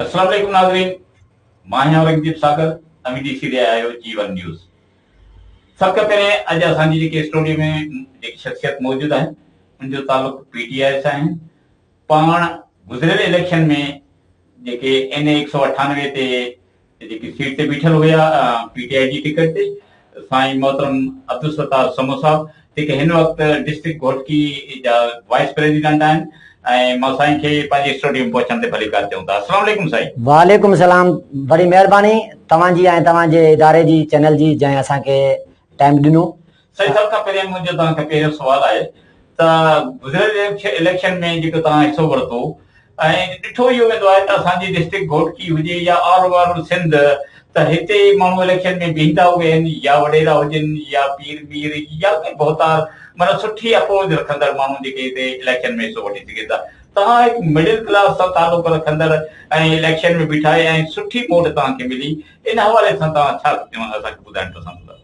السلام عليڪم ناظرين مان آهيان اورنگزيب ساگر اوهين ڏسي رهيا آهيو جي ون نيوز سڀ کان پهرين اڄ اسان جي جيڪي اسٽوڊيو ۾ جيڪي شخصيت موجود آهن ان جو تعلق پي ٽي آئي سان آهن پاڻ گذريل اليڪشن ۾ جيڪي اين اي ايڪ سؤ اٺانوي تي جيڪي سيٽ تي بيٺل هيا پي ٽي آء جي ٽڪيٽ تي سائين محترم عبدالستار سمون صاحب جيڪي هن وقت ڊسٽرڪٽ گهوٽڪي جا وائيس پريزيڊنٽ آهن ۽ مان سائين کي پنهنجي اسٽوڊيم پهچڻ تي ڀليڪار چئون ٿا السلام عليڪم سائين. وعليڪم السلام وڏي مهرباني توهان جي ۽ توهان جي اداري جي چينل جي جنهن اسان کي ٽائيم ڏنو. سائين سڀ کان پهريان منهنجو توهان کي پهريون سوال آهي ته گذريل اليڪشن ۾ جيڪو توهان حصو ورتو ۽ ڏٺو اهو ويندو آهي ته اسان جي ڊسٽرڪٽ گهوٽڪي هجي يا آل اوور سنڌ ته هتي ماڻهو اليڪشن ۾ بيهندا ويهن يا وڏيرا هجن يا پير مير يا ڪي ڀوتار معنيٰ سٺي اپوز رکندڙ ماڻهو جيڪي هتي اليڪشن ۾ حصو وٺي سگهن ٿا توهان هڪ مڊل ڪلاس سان تعلق رکندڙ ۽ اليڪشن ۾ بيٺا ۽ سٺي ووٽ توهان کي ملي ان حوالي سان توهان ڇا اسان کي ٻڌائڻ پسند ڪندا.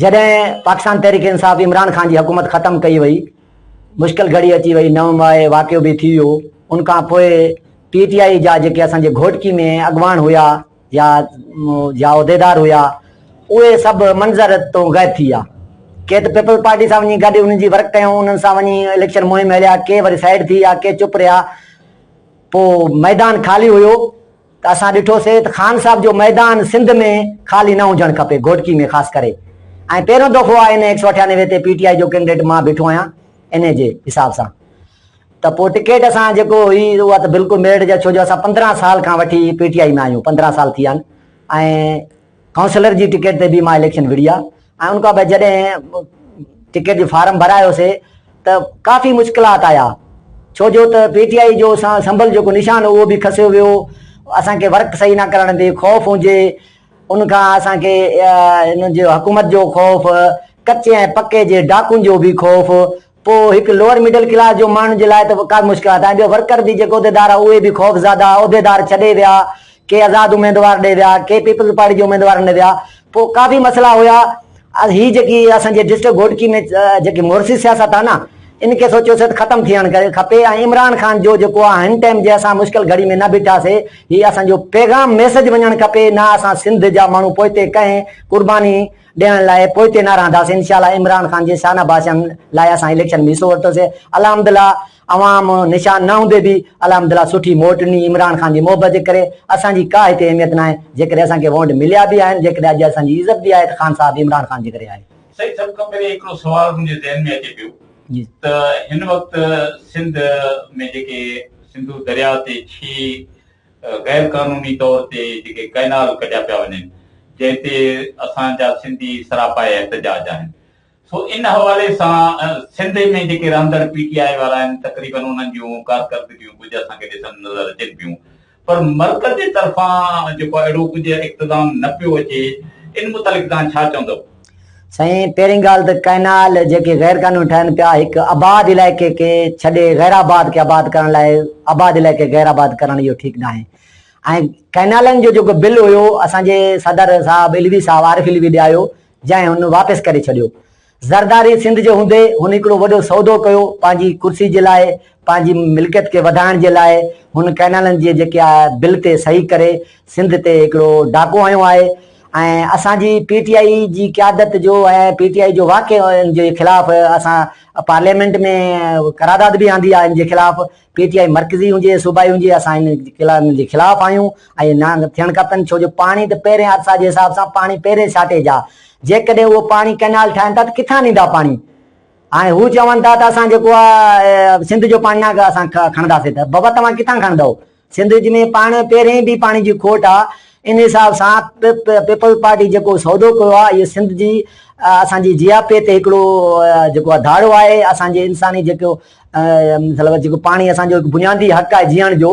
جڏهن پاڪستان تحريڪ انصاف عمران خان جي حڪومت ختم ڪئي وئي، مشڪل گهڙي اچي وئي، نو مئي واقعو به ٿي ويو، ان کان پوء پي ٽي آء جا جيڪي اسان جي گهوٽڪي ۾ اڳواڻ هيا يا يا عهديدار هيا اهي سڀ منظر تون غائب ٿي ويا. ڪي ته پيپلز پارٽي سان وڃي گڏ انهن جي ورڪ ڪيائون، انهن سان وڃي اليڪشن مهم هليا، ڪي وري سائيڊ ٿي ويا، ڪي چپ رهيا، پوء ميدان خالي هيو. ته اسان ڏٺو سي ته خان صاحب جو ميدان سنڌ ۾ خالي نه هجڻ کپي گهوٽڪي ۾ خاص ڪري ۽ پهريون دفعو آهي ان ايڪ سؤ اٺيانوي تي پي ٽي آئي جو ڪينڊيڊيٽ مان بيٺو آهيان انهي جي حساب سان ته پوء ٽڪيٽ اسان جيڪو هئي اها ته بلڪل ميرٽ جا ڇو جو اسان پندرهن سال کان وٺي پي ٽي آئي ۾ آهيون پندرهن سال ٿي ويا آهن ۽ ڪائونسلر جي ٽڪيٽ تي به مان اليڪشن وڙهي آ ۽ ان کان پوء جڏهن ٽڪيٽ جو فارم ڀرايو سي ته ڪافي مشڪلات آيا ڇو جو ته پي ٽي آئي جو اسان سنڀل جيڪو نشان هو اهو به کسيو ويو اسان کي ورڪ صحيح نه ڪرڻ تي خوف هجي ان کان اسان کي ان جو حڪومت جو خوف ڪچي ۽ پڪي جي ڊاڪون جو به خوف پوء هڪ لوئر مڊل ڪلاس جو ماڻهن جي لاء ته ڪا مشڪلات آهن ٻيو ورڪر به جيڪي عهديدار آهن اهي به خوفزاده عهديدار ڇڏي ويا ڪي آزاد اميدوار ڏي ويا ڪي پيپلز پارٽي جي اميدوارن ڏي ويا پوء ڪافي مسئلا هيا هي جيڪي اسان جي ڊسٽرڪٽ گهوٽڪي ۾ جيڪي مورثي سياست آهي نه ان کي سوچيو سيت ختم ٿيڻ ڪري کپي ۽ عمران خان جو جيڪو آ هن ٽائم جي اسان مشڪل گھڙي ۾ نه بيٺاسي هي اسان جو پيغام ميسج وڃڻ کپي نه اسان سنڌ جا ماڻهو پوئتي ڪنهن قرباني ڏيڻ لاء پوئتي نه رهنداسين انشاء الله عمران خان جي شانه باشان لاء اسان اليڪشن ۾ حصو ورتوسي الحمد الله عوام نشان نه هوندي به الحمد الله سٺي موٽ ڏني عمران خان جي محبت جي ڪري اسان جي ڪا هتي اهميت ناهي جيڪڏهن اسان کي وونٽ مليا به آهن جيڪڏهن اڄ اسان جي عزت به آهي ته خان صاحب عمران خان جي ڪري آهي. سائين سڀ کان پهرين هڪڙو سوال منهنجي ذهن ۾ اچي پيو ته هن وقت سنڌ ۾ جيڪي سنڌو درياء تي ڇهه غير قانوني طور تي جيڪي ڪئنال ڪڍيا پيا وڃن جنهن تي اسان جا سنڌي سراپا احتجاج آهن سو ان حوالي سان سنڌ ۾ جيڪي رهندڙ پي ٽي آء وارا آهن تقريبن انهن جون ڪارڪردگيون ڪجهه اسان کي ڏسڻ نظر اچن پيون پر مرڪز جي طرفان جيڪو اهڙو ڪجهه اقتدام نه پيو اچي ان متعلق توهان ڇا چوندؤ؟ سائين پهرين ڳالهه ته ڪئنال جيڪي غير قانوني ٺهن پيا هڪ آباد علائقي کي ڇڏي غيرآباد کي آباد ڪرڻ لاء آباد علائقي غير آباد ڪرڻ اهو ٺيڪ ناهي ۽ ڪئنالن جو جيڪو بل هيو اسان جي صدر صاحب علوي صاحب عارف علوي ڏي آيو جنهن هن واپس ڪري ڇڏيو زرداري سنڌ جي هوندي هن هڪڙو وڏو سودو ڪيو پنهنجي ڪرسي جي لاء پنهنجي ملڪيت کي وڌائڻ جي لاء هن ڪئنالن جي جيڪي آء بل تي صحيح ڪري سنڌ تي هڪڙو ڊاڪو هنيو آهي ۽ اسان جي پي ٽي آء جي قيادت جو ۽ پي ٽي آء جو واقعي ان جي خلاف اسان پارليامينٽ ۾ قراداد به آندي آهي ان جي خلاف پي ٽي آء مرڪزي هجي صوبائي هجي اسان ان جي خلاف آهيون ۽ نه ٿيڻ کپن ڇو جو پاڻي ته پهرين عرصا جي حساب سان پاڻي پهرين شارٽيج آ جيڪڏهن اهو پاڻي ڪئنال ٺاهن ٿا ته ڪٿان ڏيندا پاڻي هاڻي هو چون ٿا ته اسان جيڪو آهي سنڌ جو پاڻي ناکي اسان کڻنداسين ته بابا توهان ڪٿان کڻندو سنڌ جي ۾ پاڻ پهرين به پاڻي جي کوٽ آ ان حساب سان پيپلز پارٽي جيڪو سودو ڪيو آ اهو سنڌ جي اسان جي جياپي تي هڪڙو جيڪو آ ڌاڙو آهي اسان جي انساني جيڪو مطلب جيڪو پاڻي اسان جو بنيادي حق آهي جيئڻ جو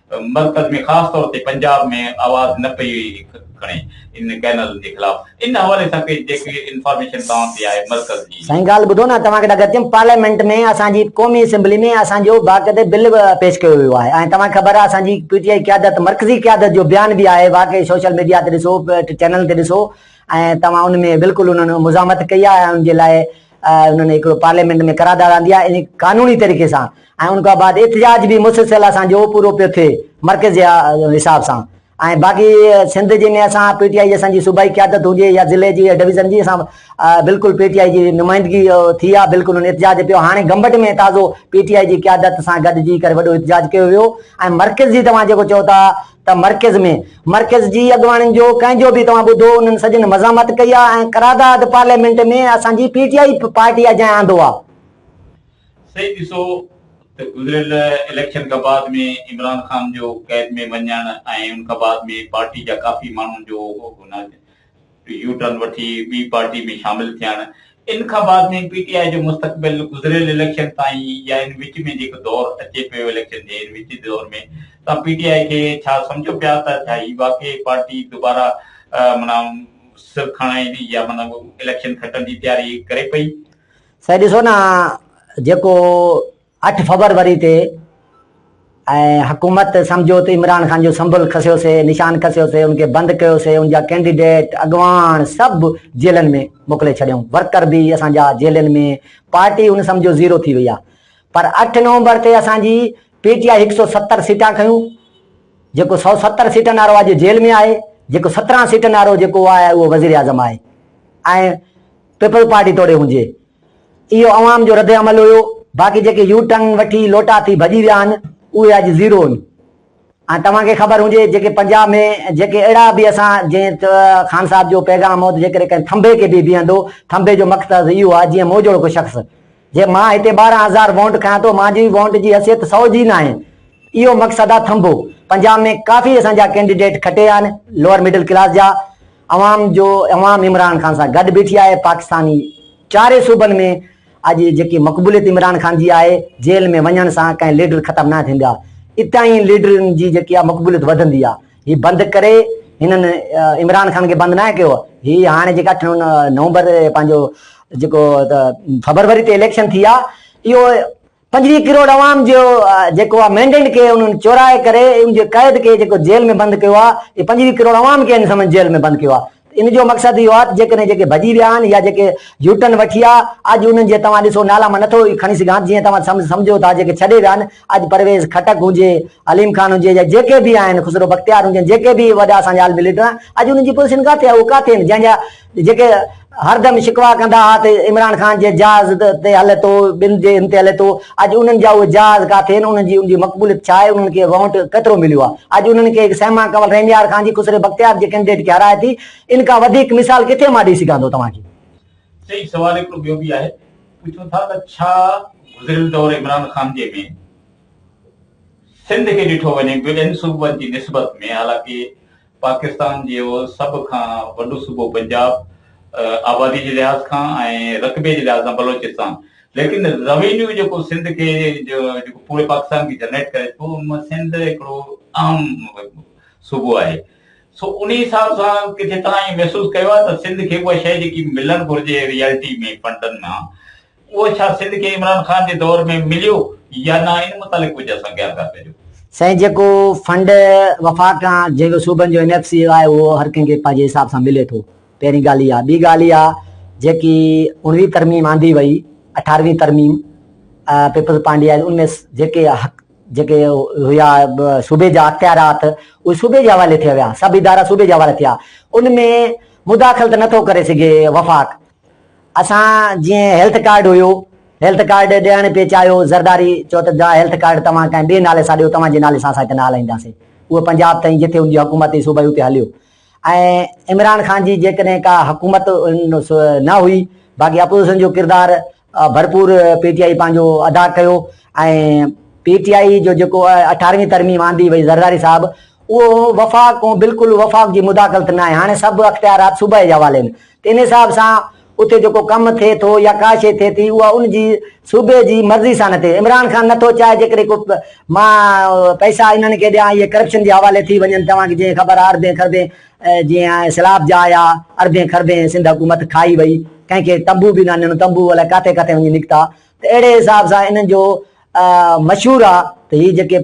مرڪز ۾ خاص طور تي پنجاب ۾ آواز نه پئي کڻي ان ڪينل جي خلاف ان حوالي سان ڪي جيڪي انفارميشن توهان کي آهي مرڪز جي. سائين ڳالهه ٻڌو نه توهان کي ڏڪ اچيم پارليامينٽ ۾ اسان جي قومي اسيمبلي ۾ اسان جو باقاعدي بل به پيش ڪيو ويو آهي ۽ توهان کي خبر آهي اسان جي پي ٽي آئي قيادت مرڪزي قيادت جو بيان به آهي واقعي سوشل ميڊيا تي ڏسو چينل تي ڏسو ۽ توهان ان ۾ بلڪل انهن مزاحمت ڪئي آهي ۽ ان جي لاء انهن هڪڙو پارليامينٽ ۾ قرارداد آندي آهي ۽ قانوني طريقي سان ۽ ان کان بعد احتجاج به مسلسل اسان جو پورو پيو ٿئي مرڪز جي حساب سان ۽ باقي سنڌ جي ۾ اسان پي ٽي آئي جي اسان جي صوبائي قيادت هجي يا ضلعي جي يا ڊويزن جي اسان بلڪل پي ٽي آئي جي نمائندگي ٿي آ بلڪل ان احتجاج پيو هاڻي گمبٽ ۾ تازو پي ٽي آئي جي قيادت سان گڏجي ڪري وڏو احتجاج ڪيو ويو ۽ مرڪز جي توهان جيڪو چئو ٿا ته مرڪز ۾ مرڪز جي اڳواڻن جو ڪنهن جو به توهان ٻڌو انهن سڄن مزاحمت ڪئي آهي ۽ قرارداد پارليامينٽ ۾ اسان جي پي ٽي آئي پارٽي اجائين آندو آهي. سائين ڏسو ته گذريل اليڪشن کان بعد ۾ عمران خان جو ڪئب ۾ وڃڻ ۽ ان کان بعد ۾ پارٽي جا ڪافي ماڻهن جو يو ٽرن وٺي ٻي پارٽي ۾ شامل ٿيڻ ان کان بعد ۾ پي ٽي آء جو مستقبل گذريل اليڪشن تائين يا ان وچ ۾ جيڪو دور اچي پيو اليڪشن جي ان وچ دور ۾ توهان پي ٽي آء کي ڇا سمجهو پيا ته ڇا هي واقعي پارٽي دوباره معنيٰ سر کڻائيندي يا معنيٰ اليڪشن کٽڻ جي تياري ڪري پئي. سائين ڏسو نه جيڪو اٺ فبروري تي ۽ حڪومت سمجهيو ته عمران خان جو سمبل کسيو سي نشان کسيو سي ان کي بند ڪيو سي ان جا ڪينڊيڊيٽ اڳواڻ سڀ جيلن ۾ موڪلي ڇڏيون ورڪر به اسان جا جيلن ۾ پارٽي ان سمجهيو زيرو ٿي وئي آ پر اٺ نومبر تي اسان جي پي ٽي آء هڪ سؤ ستر سيٽان کنيون جيڪو سؤ ستر سيٽن وارو اڄ جيل ۾ آهي جيڪو سترهن سيٽن وارو جيڪو آهي اهو وزير اعظم آهي ۽ پيپلز پارٽي توڙي هجي. اهو عوام جو رد عمل هيو، باقي جيڪي يو ٽرن وٺي لوٽا ٿي ڀڄي ويا آهن، اهي اڄ زيرو هن. ۽ توهان کي خبر هجي جيڪي پنجاب ۾ جيڪي اهڙا به اسان جئين ته خان صاحب جو پيغام هو ته جيڪڏهن ڪنهن ٿنڀي کي به بيهندو، ٿنڀي جو مقصد اهو آهي جيئن مون جهڙوڪو شخص. جي مان هتي ٻارهن هزار وونٽ کنيان ٿو مان جي وونٽ جي حيثيت سؤ جي ناهي اهو مقصد آ ٿنڀو پنجاب ۾ ڪافي اسان جا ڪينڊيڊيٽ کٽي آن لوئر مڊل ڪلاس جا عوام جو عوام عمران خان سان گڏ بيٺي آهي پاڪستاني چاري صوبن ۾ اڄ جيڪي مقبوليت عمران خان جي آهي جيل ۾ وڃڻ سان ڪنهن ليڊر ختم ناهي ٿيندي آ اتاهين ليڊرن جي جيڪي آ مقبوليت وڌندي آ هي بند ڪري هنن عمران خان کي بند ناهي ڪيو هي هاڻي جيڪا نومبر پنهنجو جيڪو فبروري تي اليڪشن ٿي آ اهو پنجويهه ڪروڙ عوام جو جيڪو آ مينڊينٽ کي انهن چورائي ڪري ان جي قيد کي جيڪو جيل ۾ بند ڪيو آ اهي پنجويهه ڪروڙ عوام کي هن سمن جيل ۾ بند ڪيو آ ان جو مقصد اهو آهي ته جيڪڏهن جيڪي ڀڄي ويا آهن يا جيڪي يوٽرن وٺي آ اڄ انهن جي توهان ڏسو نالا مان نٿو کڻي سگهان جيئن توهان سمجهو ٿا جيڪي ڇڏي ويا آهن اڄ پرويز خٽڪ هجي عليم خان هجي يا جيڪي به آهن خسرو بختيار هجن جيڪي به وڏا اسان جا عالمي ليڊر آهن اڄ انهن جي پوزيشن ڪاٿي آهي اهي ڪاٿي آهن جنهن جا جيڪي هردم شڪوا ڪندا ها ته عمران خان جي جهاز تي هلي ٿو ٻن جي هن تي هلي ٿو اڄ انهن جا اهي جهاز ڪاٿي آهن، انهن جي ان جي مقبوليت ڇا آهي، انهن کي وونٽ ڪيترو مليو آهي. اڄ انهن کي هڪ سيما ڪنول رينيار خان جي خسري بختيار جي ڪينڊيڊيٽ کي هارائي ٿي، ان کان وڌيڪ مثال ڪٿي مان ڏئي سگهان ٿو توهان کي. صحيح سوال هڪڙو ٻيو به آهي، پڇون ٿا ته ڇا گذريل دور عمران خان جي ۾ سنڌ کي ڏٺو وڃي ٻين صوبن جي نسبت ۾ حالانڪه پاڪستان جي اهو سڀ کان وڏو صوبو پنجاب آبادي جي لحاظ کان ۽ رقبي جي لحاظ کان بلوچستان ليڪن روينيو جيڪو سنڌ کي جيڪو پوري پاڪستان کي جنريٽ ڪري ٿو ان مان سنڌ هڪڙو اهم صوبو آهي سو انهي حساب سان ڪٿي توهان ائين محسوس ڪيو آهي ته سنڌ کي اها شيء جيڪي ملڻ گهرجي ريئلٽي ۾ فنڊن مان اهو ڇا سنڌ کي عمران خان جي دور ۾ مليو يا نه ان متعلق ڪجهه اسان کي آگاهه ڪجو. سائين جيڪو فنڊ وفاق کان جنهن جو صوبن جو اين ايف سي آهي اهو هر ڪنهن کي پنهنجي حساب سان ملي ٿو پهرين ڳالهه اها ٻي ڳالهه اها جيڪي اڻويهه ترميم آندي وئي اٺارهوين ترميم پيپلز پارٽي آئي ان ۾ جيڪي حق جيڪي هيا صوبي جا اختيارات اهي صوبي جي حوالي ٿي ويا سڀ ادارا صوبي جي حوالي ٿيا ان ۾ مداخلت نه ٿو ڪري سگهي وفاق اسان جيئن هيلٿ ڪارڊ هيو هيلٿ ڪارڊ ڏيڻ پئي چاهيو زرداري چيو ته جا هيلٿ ڪارڊ توهان ڪنهن ٻئي نالي سان ڏيو توهان جي نالي سان اسان هتي نه هلائينداسين اهو پنجاب تائين جتي ان جي حڪومت ۽ صوبائي اتي هليو ۽ عمران خان جي جيڪڏهن ڪا حڪومت نه هئي باقي اپوزيشن جو ڪردار ڀرپور پي ٽي آئي پنهنجو ادا ڪيو ۽ پي ٽي آئي جو جيڪو اٺارهوين ترميم آندي وئي زرداري صاحب اهو وفاق بلڪل وفاق جي مداخلت نه آهي هاڻي سڀ اختيارات صوبائي جي حوالي ۾ ان حساب سان اتي جيڪو ڪم ٿئي ٿو يا ڪا شيء ٿئي ٿي اها ان جي صوبي جي مرضي سان نه ٿئي. عمران خان نه ٿو چاهي جيڪڏهن ڪو مان پئسا انهن کي ڏيان اهي ڪرپشن جي حوالي ٿي وڃن توهان کي جيئن خبر آهي اربين کربين جي سيلاب جا آيا اربين کربين سنڌ حڪومت کائي وئي ڪنهن کي تنبو به نه ڏنو تنبو الائي ڪاٿي ڪاٿي وڃي نڪتا ته اهڙي حساب سان انهن جو مشهور آهي ته هي جيڪي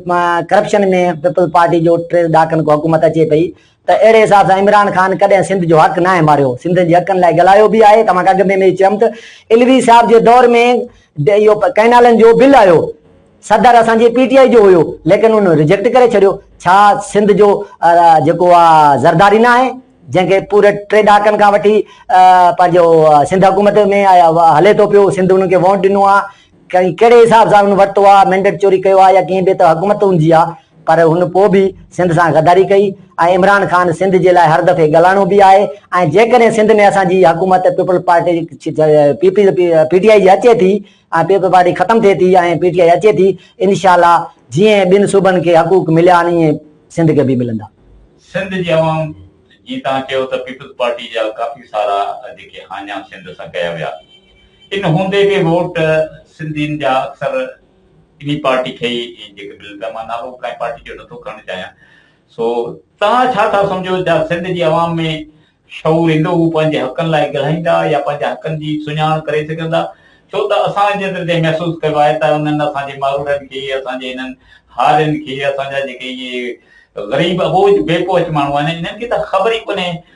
ڪرپشن ۾ پيپلز پارٽي جو ٽي ڏهاڪن کان حڪومت اچي پئي ته اهڙي حساب سان عمران خان ڪڏهن سنڌ جو حق ناهي ماريو، سنڌين جي حقن لاء ڳالهايو به آهي، توهان کي اڳ ۾ به چيم ته علوي صاحب جي دور ۾ اهو ڪئنالن جو بل آيو، صدر اسان جي پي ٽي آء جو هيو، ليڪن ان ريجيڪٽ ڪري ڇڏيو، ڇا سنڌ جو جيڪو آ زرداري ناهي، جنهن کي پوري ٽي ڏهاڪن کان وٺي پنهنجو سنڌ حڪومت ۾ هلي ٿو پيو، سنڌ انهن کي وونٽ ڏنو آ، ڪنهن ڪهڙي حساب سان هن ورتو آ، مينڊيٽ چوري ڪيو آ يا ڪيئن به ته حڪومت هن جي آ پر هن پوء به سنڌ سان غداري ڪئي ۽ عمران خان سنڌ جي لاء هر دفعي ڳالهائڻو به آهي ۽ جيڪڏهن سنڌ ۾ اسان جي حڪومت Peoples Party P P P T I جي اچي ٿي ۽ پيپلز پارٽي ختم ٿئي ٿي ۽ پي ٽي آء اچي ٿي انشاء الله جيئن ٻين صوبن کي حقوق مليا آهن ايئن سنڌ کي به ملندا. سنڌ جي عوام جيئن توهان چيو ته پيپلز پارٽي جا ڪافي سارا جيڪي هاڃا سنڌ سان ڪيا ويا. ان هوندي به ووٽ سنڌين جا اڪثر انهي پارٽي کي ئي جيڪي بل ته مان نالو ڪنهن پارٽي جو نٿو کڻڻ چاهيان سو توهان ڇا ٿا سمجهو جا سنڌ جي عوام ۾ شعور ايندو هو پنهنجي حقن لاء ڳلهائيندا يا پنهنجي حقن جي سڃاڻ ڪري سگهندا ڇو ته اسان جيتري تائين محسوس ڪيو آهي ته انهن اسان جي مارورن کي اسان جي انهن هارين کي اسان جا جيڪي اهي غريب اٻوجهه بي پهچ ماڻهو آهن انهن کي ته خبر ئي ڪونهي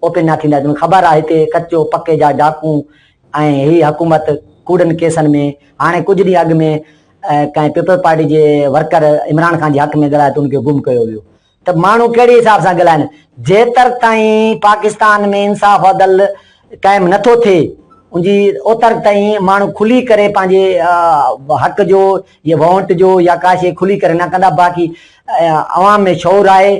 اوپن نه ٿيندا جن خبر آ هتي ڪچو پڪي جا ڊاڪون ۽ هي حڪومت ڪوڙن ڪيسن ۾ هاڻي ڪجهه ڏينهن اڳ ۾ ڪنهن پيپلز پارٽي جي ورڪر عمران خان جي حق ۾ ڳالهايو ته ان کي گم ڪيو ويو ته ماڻهو ڪهڙي حساب سان ڳالهائن جيتر تائين پاڪستان ۾ انصاف عدل قائم نه ٿو ٿئي ان جي اوتر تائين ماڻهو کلي ڪري پنهنجي حق جو يا وونٽ جو يا ڪاشي کلي ڪري نه ڪندا باقي عوام ۾ شعور آهي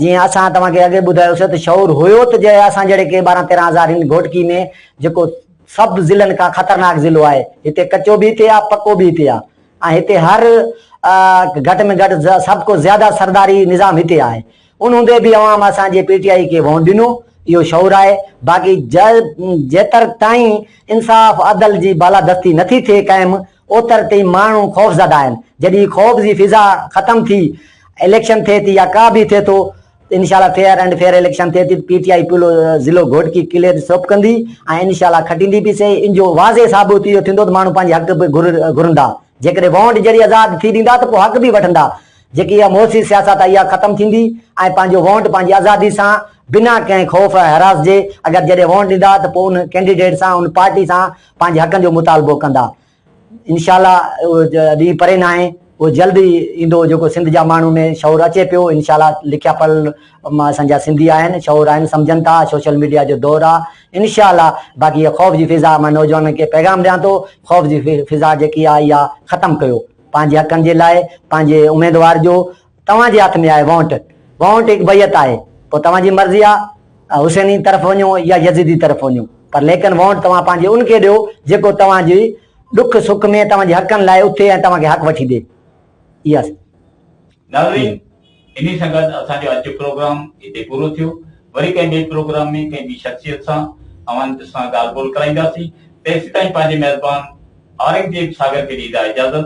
جيئن اسان توهان کي اڳي ٻڌايو سي ته شعور هيو ته جي اسان جهڙي ڪي ٻارهن تيرهن هزار هن گهوٽڪي ۾ جيڪو سڀ ضلعن کان خطرناڪ ضلعو آهي هتي ڪچو به هتي آهي پڪو به هتي آهي ۽ هتي هر گهٽ ۾ گهٽ سڀ کو زياده سرداري نظام هتي آهي ان هوندي به عوام اسان جي پي ٽي آئي کي وونٽ ڏنو اهو شعور آهي باقي جيتر تائين انصاف عدل جي بالادستي نٿي ٿئي قائم اوتر تائين ماڻهو خوفزده آهن جڏهن خوف جي فضا ختم ٿي اليڪشن ٿئي ٿي يا ڪا به ٿئي ٿو انشاء الله فيئر اينڊ فيئر اليڪشن ٿئي ٿي پي ٽي آء پلو ضلعو گهوٽڪي ڪليئر سوپ ڪندي ۽ انشاء الله کٽيندي به سهي ان جو واضح ثابت اهو ٿيندو ته ماڻهو پنهنجي حق به گهرندا جيڪڏهن وونٽ ذريعي آزاد ٿي ڏيندا ته پوء حق به وٺندا جيڪي اها موسي سياست آهي اها ختم ٿيندي ۽ پنهنجو وونٽ پنهنجي آزادي سان بنا ڪنهن خوف ۽ حراس جي اگر جڏهن وونٽ ڏيندا ته پوء ان ڪينڊيڊيٽ سان ان پارٽي سان پنهنجي حقن جو مطالبو ڪندا انشاء الله اهو ڏينهن پري ناهي اهو جلد ئي ايندو جيڪو سنڌ جا ماڻهو ۾ شعور اچي پيو انشاء الله لکيا پڙهيل اسان جا سنڌي آهن شعور آهن سمجهن ٿا سوشل ميڊيا جو دور آ انشاء الله باقي هي خوف جي فضا مان نوجوانن کي پيغام ڏيان ٿو خوف جي فضا جيڪي آ اها ختم ڪيو پنهنجي حقن جي لاء پنهنجي اميدوار جو توهان جي هٿ ۾ آهي وونٽ، وونٽ هڪ بيعت آهي، پوء توهان جي مرضي آهي ته حسينين طرف وڃو يا يزيدي طرف وڃو، پر ليڪن وونٽ توهان پنهنجي ان کي ڏيو جيڪو توهان جي ڏک سک ۾ توهان جي حقن لاء اٿي ۽ توهان کي حق وٺي ڏي. اها سي. ناظرين انهي سان گڏ اسان جو اڄ جو پروگرام هتي پورو ٿيو، وري ڪنهن ٻئي پروگرام ۾ ڪنهن ٻي شخصيت سان اوهان سان ڳالهه ٻولهه ڪرائينداسين، تيسيتائين پنهنجي ميزبان اورنگزيب ساگر کي ڏيندا اجازت.